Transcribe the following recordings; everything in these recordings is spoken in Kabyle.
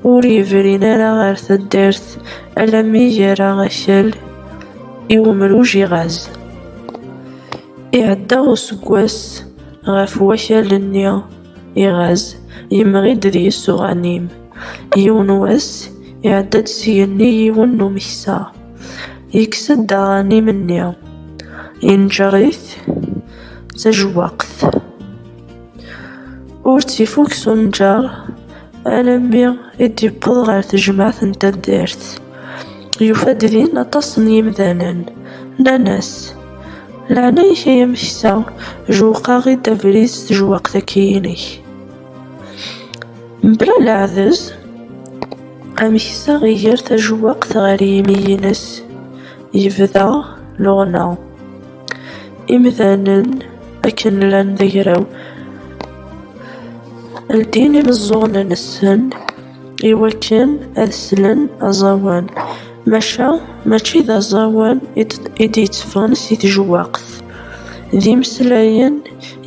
Ur yebrin ara ɣer taddart alammi yerra akal i umruj iɣaz. Iɛedda useggas ɣef wakal-nni iɣaz, yemɣi-d d yisuɣanim. Yiwen wass, iɛedda-d s yigenni yiwen n umeksa, yekkes-d aɣanim-nni, yenǧer-it d tajewwaqt. Ur tt-ifuk s unǧer. Alammi i d-yewweḍ ɣer tejmaɛt n taddart, yufa-d din aṭas n yimdanen, nnan-as, Leɛnaya-k ay ameksa, jewqeɣ-id abrid s tejwaqt-agi-inek. Mebla leɛdez, ameksa iger tajewwaqt ɣer yimi-ines, yebda luɣna. Imdanen akken llan d agraw, ldin imeẓẓuɣen-nsen i wakken ad slen aẓawan, maca mačči d aẓawan i d-yetteffɣen si tejwaqt. D imeslayen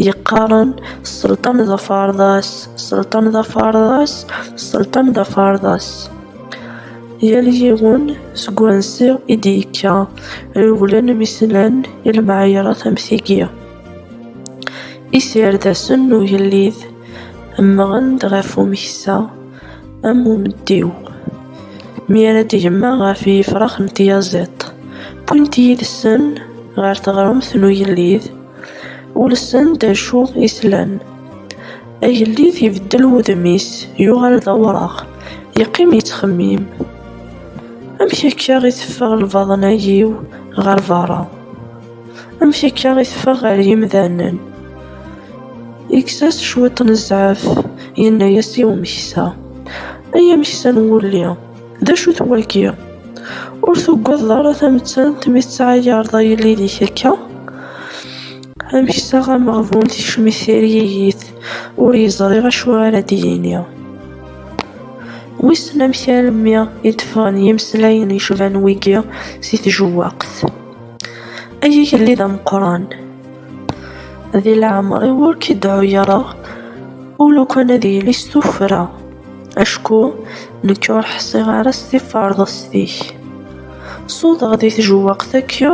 yeqqaren sselṭan d aferḍas, sselṭan d aferḍas, sselṭan d aferḍas. Yal yiwen seg wansi i d-yekka, rewlen mi slan i lemɛayṛat am tigi. Isirdasen n ugellid mmɣen-d ɣef umeksa am umeddiw, mi ara d-gemma ɣef yifrax n tyaziḍt, wwin-t yid-sen ɣer teɣremt n ugellid, ulsen-d acu i slan. Agellid ibeddel wudem-is, yuɣal d awraɣ, yeqqim yettxemmim, Amek akka i teffeɣ lbaḍna-iw ɣer berra? Amek akka i teffeɣ ɣer yimdanen? Yekkes-as cwiṭ n zzɛaf, yenna-as i umeksa, Ay ameksa n wulli, d acu-t wagi? Ur tugadeḍ ara tamettant mi tettɛayareḍ agellid-ik akka? Amek iseɣ ameɣbun tikcem-it tiryegit, ur yeẓri acu ara d-yini. Wissen amek almi i d-ffɣen yimeslayen yecban wigi si tjewwaqt. Ay agellid ameqqran! Di leɛmer-iw ur k-id-ɛuyareɣ u lukan ad yili s tuffra, acku nekk ur ḥṣiɣ ara s tiferḍest-ik. Suḍeɣ di tjewwaqt akya,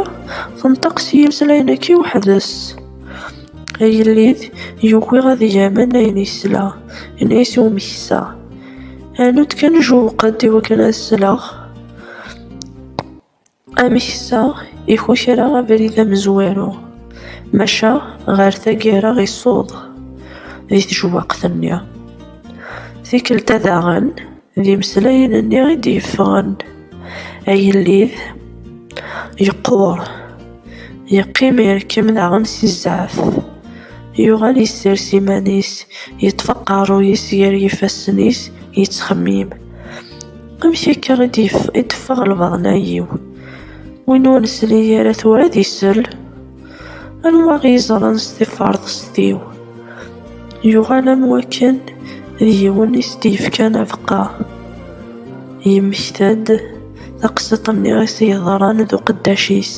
tenṭeq s yimeslayen akya weḥd-s. Agellid yugi ad yamen ayen yesla, yenna-as i umeksa, Anu-d kan jewweq-d i wakken ad sleɣ. Ameksa iku kra abrid amezwaru, maca ɣer taggara isuḍ di tjewwaqt-nni. Tikkelt-a daɣen, D imeslayen-nni i d-yeffɣen, agellid yeqqur, yeqqim irkem daɣen si zzeɛf, yuɣal yessers iman-is, yeṭṭef aqerruy-is gar yifassen-is, yettxemmim, Amek akka i d-teffeɣ lbaḍna-yiw? Win ur nesli ara tura ad isell? Anwa i yeẓran s tiferḍest-iw? Yuɣal am wakken d yiwen i s-d-yefkan abeqqa. Yemmekta-d taqsiṭ-nni i s-yeḍran d uqeddac-is.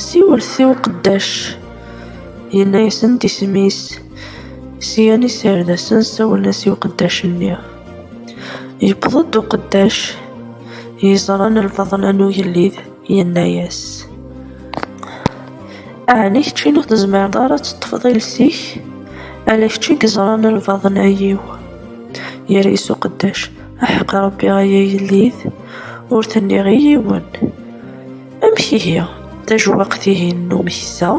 Siwlet i uqeddac, yenna-yasen-d isem-is. Syan iserdasen sawlen-as i uqeddac-nni. Yewweḍ-d uqeddac, yeẓran lbaḍna n ugellid. Yenna-yas, Ɛni kečč ur tezmireḍ ara ad teṭṭfeḍ iles-ik? Ala kečč i yeẓran lbaḍna-iw. Yerra-yas uqeddac, Aḥeqq Ṛebbi ay agellid, ur t-nniɣ i yiwen. Amek ihi, tajewwaqt-ihin n umeksa?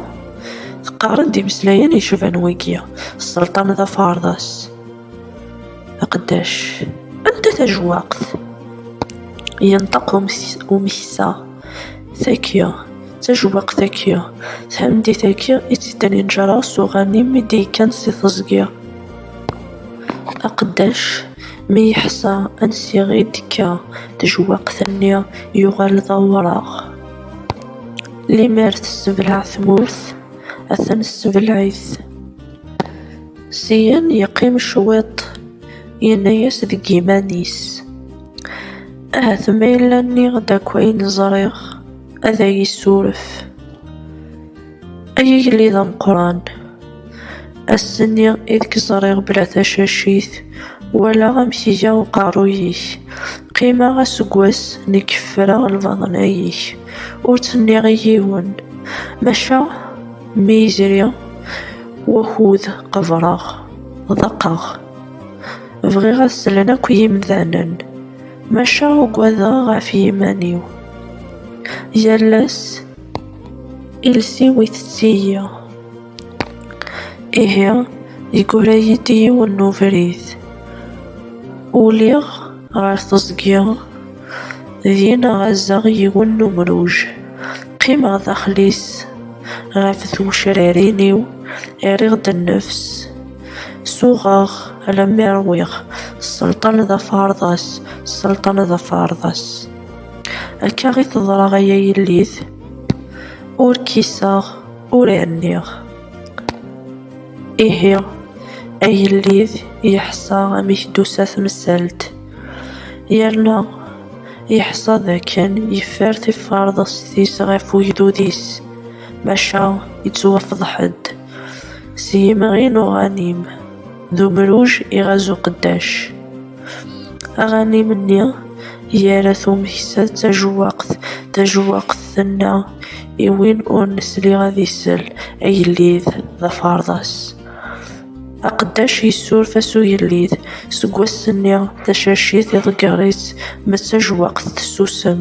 Teqqaren-d imeslayen yecban wigi, Sselṭan d aferḍas. Aqeddac, anta tajwaqt? Yenṭeq umeksa, tagi, tajwaqt agi, tameddit agi i tt-iddan yenǧara s uɣanim i d-yekkan si teẓgi. Aqeddac, mi yeḥsa ansi i d-tekka tejwaqt-nni, yuɣal d awraɣ. Limmer tessebleɛ tmurt, atan ssebleɛ-it. Syen yeqqim cwiṭ, yenna-yas deg yiman-is, Ahat ma yella nniɣ-d akk ayen ẓriɣ, ad ay-issuref. Ay agellid ameqqran! Ass-nni i d k-ẓriɣ bla tacacit, walaɣ amek iga uqerruy-ik, qqimeɣ aseggas nekk ffreɣ lbaḍna-ik, ur tt-nniɣ i yiwen, maca, Mi yezri wakud qebreɣ, ḍaqeɣ. Bɣiɣ ad slen akk yimdanen, maca ugadeɣ ɣef yiman-iw. Yal ass, iles-iw itett-iyi. Ihi, yeggura-yi-d yiwen n ubrid. Uliɣ. Ɣer teẓgi, din ɣazeɣ yiwen n umruj. Qqimeɣ daxel-is, ɣef twecrarin-iw rriɣ-d nnefs. Suɣeɣ alammi rwiɣ, sselṭan d aferḍas, sselṭan d aferḍas. Akka i teḍra ay a yellit, ur kiseɣ, ur rniɣ. Ihi, agellid yeḥṣa amek d-tusa temsalt, yerna yeḥṣa d akken yeffer tiferḍest-is ɣef ugdud-is, maca yettwafḍeḥ-d s yimɣi n uɣanim. d umruj iɣaz uqeddac. Aɣanim-nni yerra tumeksa d tajewwaqt, tajewwaqt tenna i win ur nesli ad isel, agellid d aferḍas. Aqeddac yessuref-as ugellid, seg wass-nni tacacit iḍegger-itt, ma d tajewwaqt tessusem.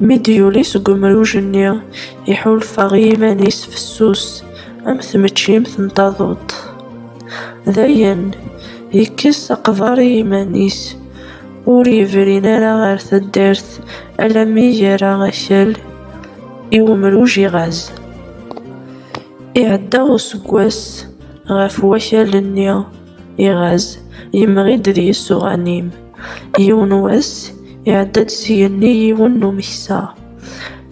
Mi d-yuli seg umruj-nni, iḥulfa i yiman-is fessus am tmeččimt n taduṭ. Dayen, yekkes aqbar i yiman-is, ur yebrin ara ɣer taddart alammi yerra akal i umruj iɣaz. Iɛedda useggas ɣef wakal-nni. Iɣaz, yemɣi-d d yisuɣan-im. Yiwen wass, iɛedda-d s igenni yiwen n umeksa,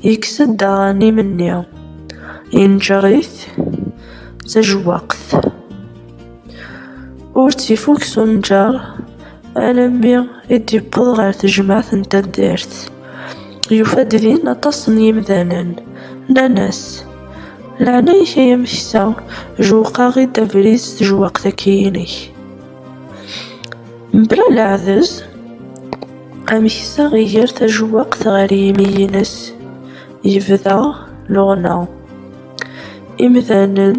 yekkes-d aɣanim-nni, yenǧer-it d tajewwaqt. Ur tt-ifukk s unǧer. Alammi i d-yewweḍ ɣer tejmaɛt n taddart, yufa-d din aṭas n yimdanen, nnan-as, Leɛnaya-k ay ameksa, jewweq-aɣ-id abrid s tejwaqt-agi-inek. Mebla leɛdez, ameksa iger tajewwaqt ɣer yimi-ines, yebda luɣna. Imdanen.